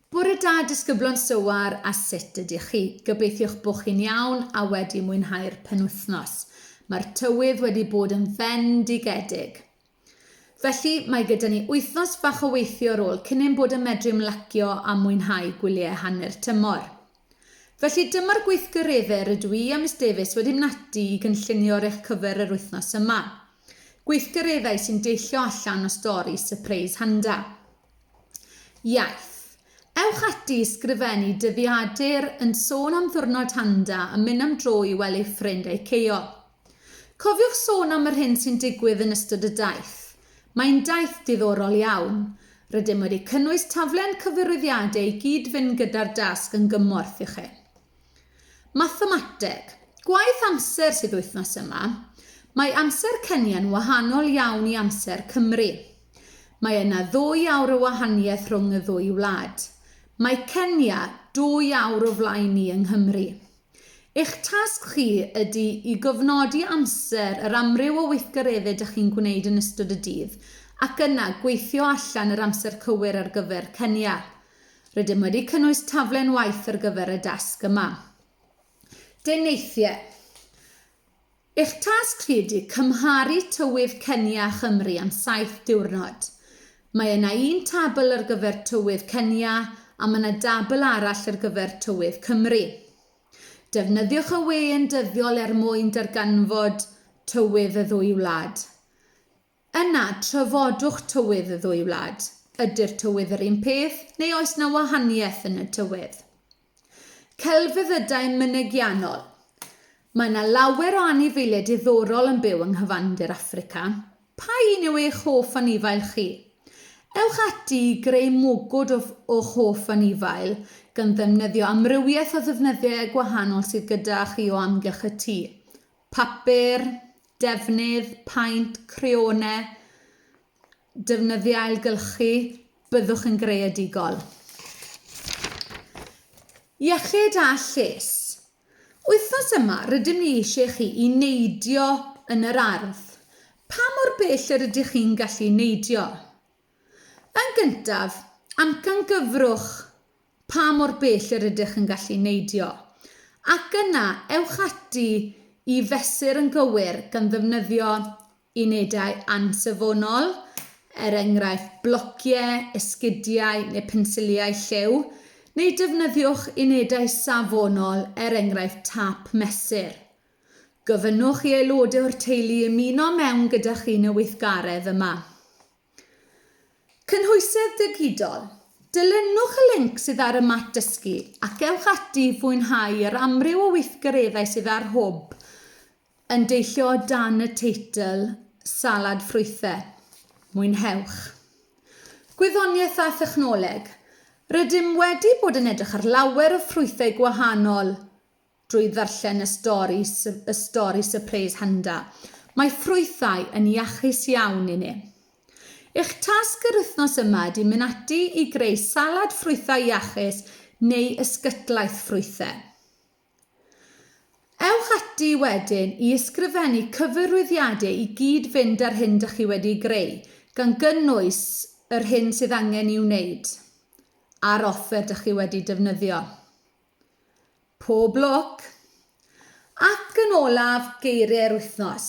Bore da disgyblon Sywar a sut ydych chi? Gobeithiwch bod chi'n iawn a wedi mwynhau'r penwythnos. Mae'r tywydd wedi bod yn fendigedig. Felly mae gyda ni wythnos fach o weithio ar ôl cyn ein bod yn medru ymlacio a mwynhau gwyliau hanner tymor. Felly dyma'r gweithgareddau rydw i a Miss Davies wedi mynatu i gynllunio ar eich cyfer yr wythnos yma. Gweithgareddau sy'n deillio allan o stori Sypreis Handa. Iaith. Ewch ati i sgrifennu dyddiadur yn sôn am Ddiwrnod Handa a mynd am dro i wely ffrind a'i ceio. Cofiwch sôn am yr hyn sy'n digwydd yn ystod y daith. Mae'n daith diddorol iawn. Rydym wedi cynnwys taflen cyfyrwyddiadau i gyd-fynd gyda'r dasg yn gymorth i chi. Mathemateg. Gwaith amser sydd wythnos yma. Mae amser Kenya'n wahanol iawn i amser Cymru. Mae yna ddwy awr o wahaniaeth rhwng y ddwy wlad. Mae Kenya dwy awr o flaen ni yng Nghymru. Eich tasg chi ydy i gofnodi amser yr amryw o weithgareddau dych chi'n gwneud yn ystod y dydd ac yna gweithio allan yr amser cywir ar gyfer Kenya. Rydym wedi cynnwys taflen waith ar gyfer y dasg yma. Deneithiau Eich tasg chi ydy cymharu tywydd Kenya a Chymru am saith diwrnod. Mae yna un tabl ar gyfer tywydd Kenya a mae yna dabl arall ar gyfer tywydd Cymru. Defnyddiwch y we yn dyddiol er mwyn darganfod tywydd y ddwy wlad. Yna, trafodwch tywydd y ddwy wlad. Ydy'r tywydd yr un peth, neu oes 'na wahaniaeth yn y tywydd? Celfyddydau mynegiannol. Mae 'na lawer o anifeiliaid diddorol yn byw yng nghyfandir Affrica. Pa un yw eich hoff anifail chi? Ewch ati i greu mwgwd o o'ch hoff anifail, gan ddefnyddio amrywiaeth o ddefnyddiau gwahanol sydd gyda chi o amgylch y tŷ. Papur, defnydd, paent, creone, defnyddiau ailgylchu, byddwch yn greadigol. Iechyd a lles. Wythnos yma, rydym ni eisiau chi i neidio yn yr ardd. Pa mor bell yr ydych chi'n gallu neidio? Yn gyntaf, amcangyfrwch pa mor bell yr ydych yn gallu neidio, ac yna ewch ati i fesur yn gywir gan ddefnyddio unedau ansafonol, er enghraifft blociau, esgidiau neu pensiliau lliw, neu defnyddiwch unedau safonol, er enghraifft tâp mesur. Gofynnwch i aelodau o'r teulu ymuno mewn gyda chi yn y weithgaredd yma. Cynhwysedd Digidol, Dilynwch y linc sydd ar y mat dysgu ac ewch ati i fwynhau yr amryw o weithgareddau sydd ar Hwb yn deillio o dan y teitl Salad Ffrwythau. Mwynhewch! Gwyddoniaeth a Thechnoleg, Rydym wedi bod yn edrych ar lawer o ffrwythau gwahanol drwy ddarllen y stori y stori Surprise Handa. Mae ffrwythau yn iachus iawn i ni. Eich tasg yr wythnos yma ydy mynd ati i greu salad ffrwythau iachus neu ysgytlaeth ffrwythau. Ewch ati wedyn i ysgrifennu cyfarwyddiadau i gyd fynd â'r hyn dych chi wedi greu, gan gynnwys yr hyn sydd angen i'w wneud a'r offer dych chi wedi defnyddio. Pob lwc! Ac yn olaf, geiriau'r wythnos.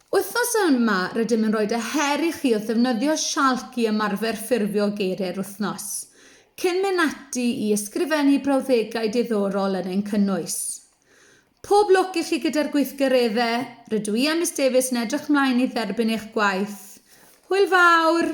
Wythnos yma, rydym yn rhoi y her i chi wrth ddefnyddio sialc i ymarfer ffurfio geiriau'r wythnos, cyn mynd ati i ysgrifennu brawddegau diddorol yn ein cynnwys. Pob lwc i chi gyda'r gweithgareddau, rydw i a Miss Davies yn edrych mlaen i dderbyn eich gwaith. Hwyl fawr!